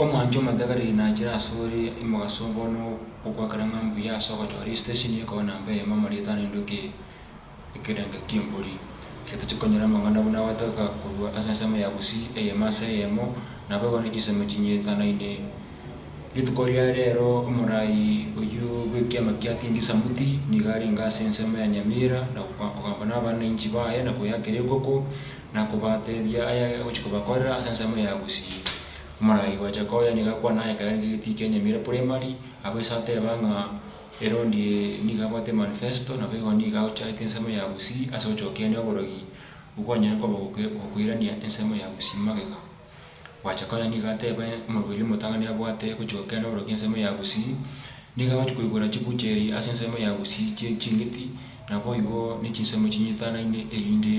Omwancho omotagera nachire asore imogaso bono okwakera ng'a mbuya ase ogochora esitesheni ekoba na mbe eyemo amo ritano inde oke ekerenga kiembori. Egento chikonyora amang'ana buna agotoka korwa ase ensemo ya Gusii eyemo ase eyemo nabo igo ne chisemo chinyetanaine. Rituko ria rero omorai oyio bwekiama kia Tindi Samuti nigo arenge ase ensemo ya Nyamira na kogamba na abananchi baye na koyakera ekoko. na kobatebia aya agochia kobakorera ase ensemo ya gusii. Omoraai gwacha koya nigo akwana aye ekero arenge egetii kia Nyamira Primary, abwo ase ateba ng'a erondi eye nigo abwate manifesto nabo igo nigo agochagete ensemo ya gusii ase ogochokereria oborogi obwo kwanyare koba okoirania ensemo ya gusii magega. Gwacha konya nigo ateba omobere omotang'ani abwate gochia gokia na oborokia ensemo ya Gusii, nigo agochia koigora chibucheri ase ensemo ya Gusii chie ching'iti, naboigo ne chinsemo chinyitanaine erinde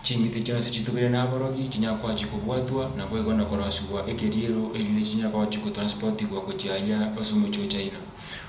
ching'iti chionsi chitubire na aborogi chinyare koachia kobwatwa naboigo na korosigwa ekeriero erinde chinyare koachia gotransportigwa gochia ayia ase omochie o China.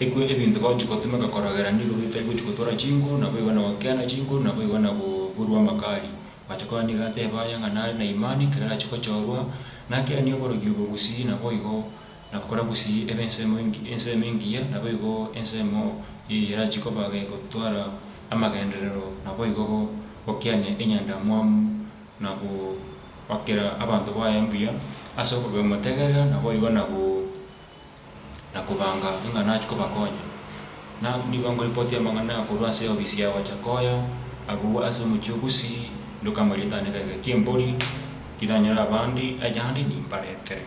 Ekwe ebinto bagochia gotomeka korogera nigo bitari gochia gotora chinkoro, naboigo na gokeana chinkoro, naboigo na goburwa amakari. Bagacha korora nigo ateba aye ng'a nare na imani, ekero arache gochorwa, nakeanie oborogi obo gusii, naboigo nabakora gusii ebe ensemo engi, ensemo engiya, naboigo ensemo eye erache koba gotwara amagenderero, naboigo gokeania enyandamwamu, na goakera abanto baye mbuya ase okomotegerera, naboigo na go. na kobanga ng'a nachie kobakonya. Na nigo ngoripoti amang'ana korwa ase eofisi ya gocha koya agwo ase omochie o Gusii, ndokama eritang'ani egeka ki'embori, tiranyora abande, aye ande nimbaretere.